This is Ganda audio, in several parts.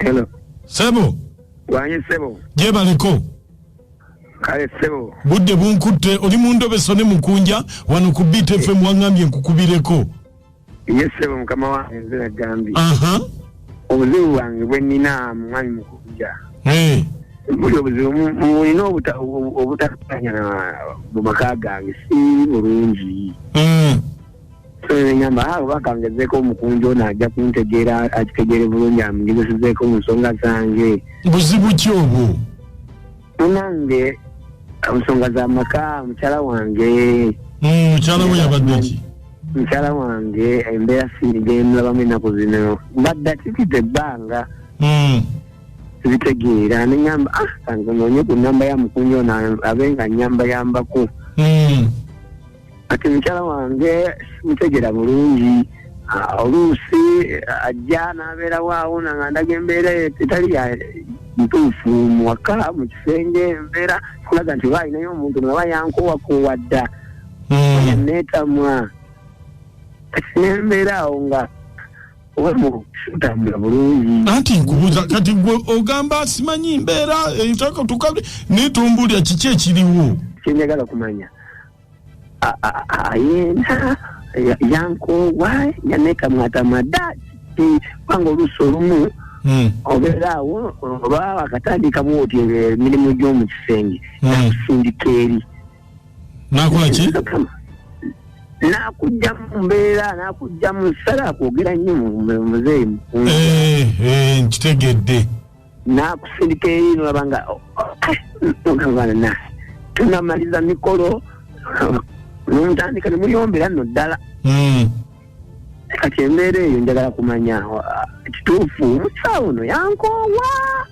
Hello. Sebo. Wanyi sebo. Je baliko. Kale sebo. Budde bunkutte oli mu ndobeso ne mukunja wano ku Beat eh. FM wangambye nkukubireko. Yes sebo mukama wange nze nagambye. Aha. Obuzibu bwange bwe nina mwami mukunja. Eh. Hey. buli obuzibu mulina obutakanya mu maka gange si bulungi hmm. ngamba awo bakangezeeko omukunja ono ajja kuntegeera akitegeere bulungi amugezesezeeko mu nsonga zange buzibu ki obwo munange nsonga za maka mukyala wange hmm, mukyala we yabadde ki mukyala wange embeera sigendulabamu ennaku zino mbadde akitidde ebbanga hmm. zitegeera neamba ah, kange noonye ku namba ya mukunja ono abe nga nyambayambako hmm. kati mukyala wange simutegera bulungi ah, oluusi ah, ajja n'abeerawo awo nanga ndaga embeera etali ya ntuufu muwaka mu kisenge embeera kulaga nti oba alinayo omuntu naba yankowakoowa dda hmm. neetamwa kati nembeera awo nga anti nkubuza kati gwe ogamba simanyi mbeera entaka eh, tukabde naye tombulira kiki ekiriwo kyenjagala kumanya ayenda yankoowa yanekamwatamada kiti kubanga oluusi olumu hmm. obeera awo oba wakatandikamu oti emirimu gy'omu kisenge hmm. nakusindika eri nakola ki nakujja mu mbeera nakujja mu nsala kwogera nnyo muzeeyi mukulu eh, eh, nkitegedde nakusindika eri nolaba nga oh, ogambana tunamaliza mikolo nomutandika nemuyombera no ddala hmm. kati embeera eyo njagala kumanya kituufu omusawo no yankoowa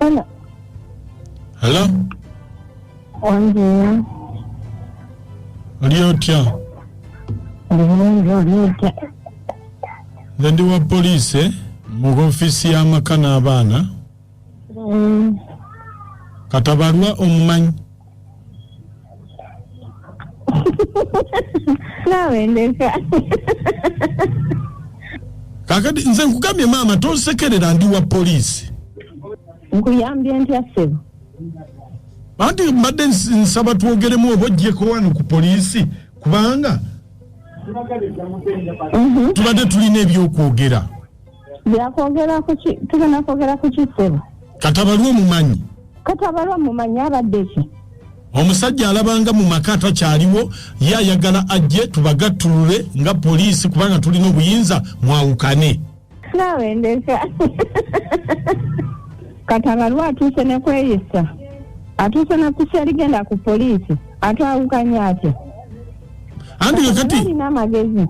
Hello. Hello? Ongeya. Oli otya? Ndibulungi oli otya? Nze ndi wa poliisi eh? mu ofiisi y'amaka n'abaana. Mm. Katabalwa omumanyi. naawe ndeka kakati nze nkugambye maama tonsekerera ndi wa poliisi nkuyambye ntya ssebo anti mbadde ns- nsaba twogeremu oba ojjeko wano ku poliisi kubanga Mhm. tubadde tulina ebyokwogera byakwogera kuki tugenda kwogera kuki ssebo kati abaliwo mumanyi kati abaliwo mumanyi abadde ki omusajja alabanga mu maka atakyaliwo ye ayagala ajje tubagattulule nga poliisi kubanga tulina obuyinza mwawukane naawe ndeka kati abaliwo atuuse ne kweyisa atuuse ne kusa erigenda ku poliisi atwawukanya atya anti nga kati alina amagezi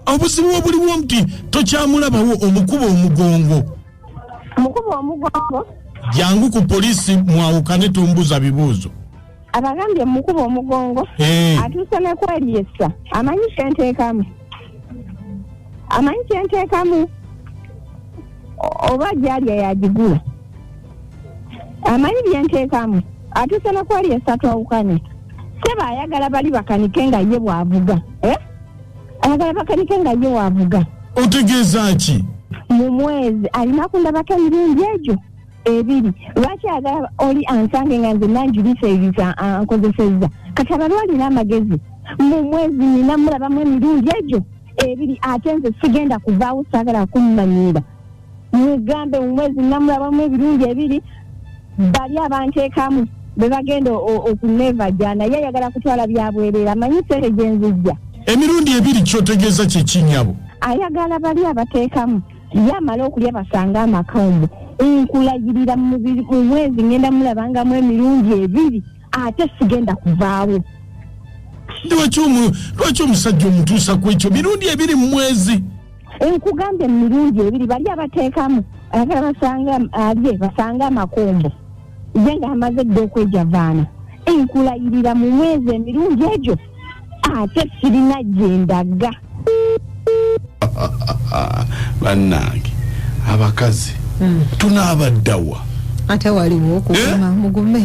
obuzibu obuliwo nti tokyamulabawo omukuba omugongo mukuba omugongo jangu ku polisi mwawukane tombuza bibuuzo abagambye mukuba omugongo eh. atuuse nekwelyesa amanyi kyentekamu amanyi kyentekamu oba gyalya yagigula amanyi byentekamu atuuse nekwelyesa twawukane seba ayagala bali bakanike nga ye bwavuga eh? ayagala bakanike nga ye wavuga otegeeza ki mu mwezi alina kundabako emirundi egyo ebiri lwaki agala oli ansange nga nze nanjulisa ebisa ankozesezza kati abalwa alina amagezi mu mwezi nina mulabamu emirundi egyo ebiri ate nze sigenda kuvaawo saagala kummanyiira mugambe mu mwezi namulabamu ebirungi ebiri bali abanteekamu be bagenda okunevaja naye ayagala kutwala byabwerera amanyi sente gye nzijja emirundi ebiri kyotegeeza kyekinyabo ayagala bali abateekamu ye amale okulya basanga amaka omu nkulayirira mu mwezi ngenda mulabangamu emirundi ebiri ate sigenda kuvaawo lwaki omusajja omutuusa ku ekyo mirundi ebiri mu mwezi nkugambye mu mirundi ebiri bali abateekamu ayagala basanga alye basanga amakombo ye nga amaze dda okwejavaana enkulayirira mu mwezi emirundi egyo ate sirina gyendaga bannange abakazi hmm. tunaabaddawa ate waliwo okuguma eh? mugume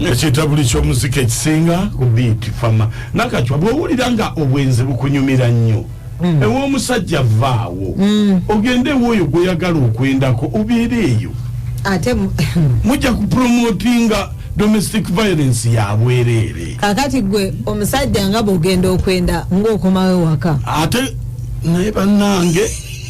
ekitabuli kyomuzika ekisinga kubiiti fama nakacwa bwowulira nga obwenzi bukunyumira nnyo mm. ewomusajja vaawo mm. ogende ewoyo gwoyagala okwendako obeera eyo ate mujja kupromotinga domestic violence yabwereere kakati gwe omusajja nga bwogenda okwenda ngaokomawo ewaka ate naye banange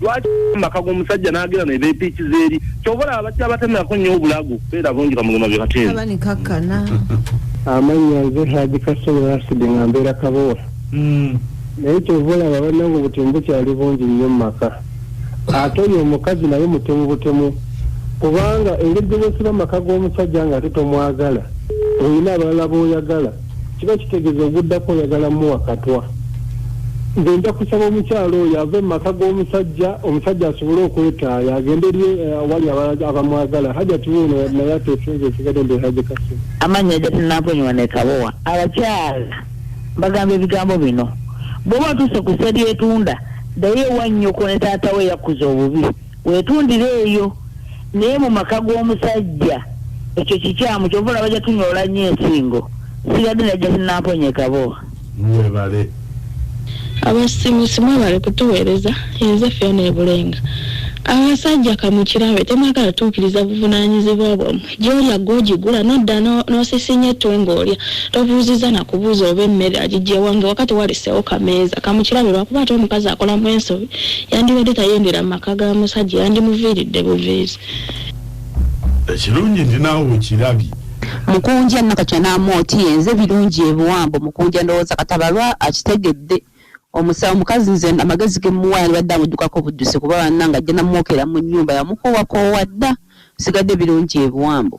lwaki maka g'omusajja n'agera ne beepiiki zeeri kyova olaba bajja batemerako nnyo obulago beera bungi kamugema bye bateeabanikakkana amannya nze haji kasolo asidi nga mbeera kabowa hmm. naye kyova olaba banange obutemu bukyali bungi nnyo mu maka ate oyo omukazi naye mutemu butemu kubanga engeri gye bwesiba amaka g'omusajja nga ate tomwagala olina abalala b'oyagala kiba kitegeza oguddako oyagala muwa katwa nze nja kusaba omukyalo oyo ave mu maka g'omusajja omusajja asobole okwetaaya agende eri eh, awali abamwagala hajati wuuno naye atesinza esigade nde haje kasi amannya hajati namponywa nekabowa abakyala bagamba ebigambo bino bwoba otuuse ku seryetunda daye wanyoko ne taata we yakuza obubi wetundire eyo naye mu maka g'omusajja ekyo kikyamu kyova olaba jatunyoola nnyo ensingo sibadde najja sinamponyekabo mwebale abasimusi mwebale kutuweereza enze feona ebulenga abasajja kamukirabe temwagala tuukiriza buvunanyizibwa bwamwe Gy'olya ggwe ogigula n'odda n'osisinya ettu ng'olya. Tobuuzizza na kubuuza oba emmere agiggye wa ng'ewaka tewaleseewo kameeza ka mu kirabiro lwakuba ate omukazi akolamu ensobi yandibadde tayendera mu maka ga musajja yandimuviiridde buviizi. Ekirungi nti naawe okirabye. Mukunja nakati anaamu oti yenze birungi ebiwambo mukunja ndowooza katabalwa akitegedde. Omusawo mukazi nze amagezi ge muwa yandibadde amuddukako buddusi kuba bannange ajja namwokera mu nnyumba yamukoowakoowa dda bisigadde birungi ebiwambo.